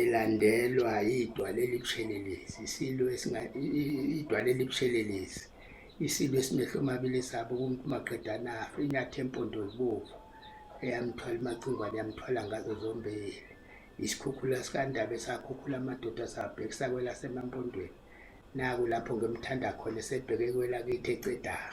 ilandelwa idwala elibushelelezi isilo idwala elibushelelezi isilo esimehlo omabili esabo kumuntu maqedana afe inyathi empondo zibovu eyamthwala imacingwane yamthwala ngazo zombili isikhukhula sikandaba esakhukhula amadoda asabhekisa kwelasemampontweni naku lapho ngimthanda khona esebheke kwelakithi ecedaha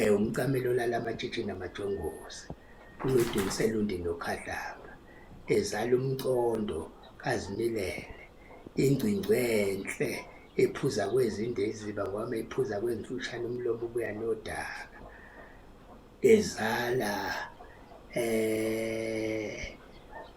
Eh umcamelo lala amatshitshi namajongosi uMedunselundi noKhadlanga ezala umcondo kazimilele ingcingcwe enhle ephuza kwezinde iziba ngoba ephuza kwemfushane umlomo ubuya nodaka ezala eh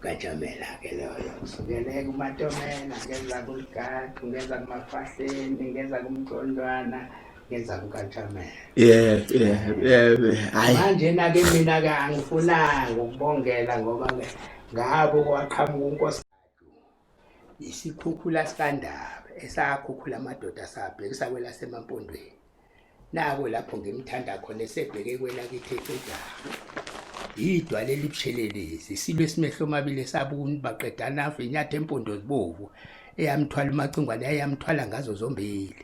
kajamela ke loyo kusukele kumatomela ngeza kuligaqu ngeza kumafahleni ngeza kumgcondwana ngeza kukajamela yeah yeah yeah hayi manje na ke mina ka angifunanga ukubongela ngoba ngabo kwaqhamuka unkosi Isikhukhula sikandaba esakhukhula amadoda sabhekisa kwelaseMampondweni. Nako lapho ngimthanda khona esebheke kwelakithi eCedara. Yidwa leli bushelelezi silwe simehlo omabili esabuni baqedana afe inyatha empondo zibovu eyamthwala umacingwane yayamthwala ngazo zombili.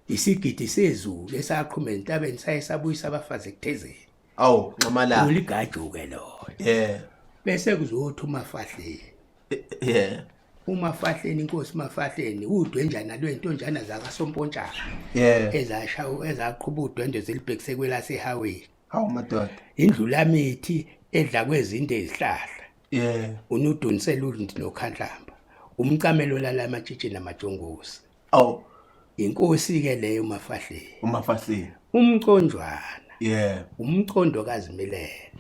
Isigidi sezulu esaqhuma entabeni saye sabuyisa abafazi ekuthezeni. Awu nxamalala. Uligajuke lo. Yeah. Bese kuzothi umafahleni. Yeah. umafahleni inkosi mafahleni udwenjana lwentonjana zakasompontshana yeah. ezasha ezaqhuba udwendwe zilibhekise kwelasehaweni hawu madoda indlulamithi edla kwezinde izihlahla yeah. unudunisela undi nokhandlamba umcamelo lala amatshitshi namajongosi awu inkosi ke leyo umafahleni umafahleni umconjwana yeah umcondo kazimilele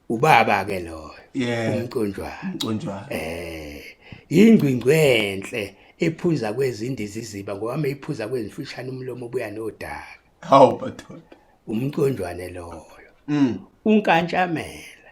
ubaba ke loyo yeah umconjwana umconjwana eh ingcingcwe enhle ephuza kwezindi ziziba ngoba meyiphuza kwezimfishane umlomo obuya nodaka hawu bathola umconjwane loyo mm unkantshamela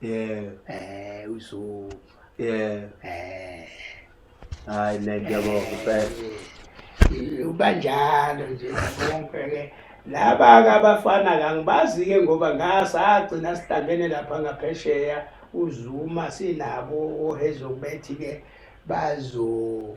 Yeah. Eh uzo. Yeah. Eh. Hayi ne ngiyabonga kuphela. Eh, ubanjalo nje konke ke. Laba kabafana kangibazi ke ngoba ngasagcina sihlangene lapha ngaphesheya uZuma sinabo ohezo kubethi ke bazo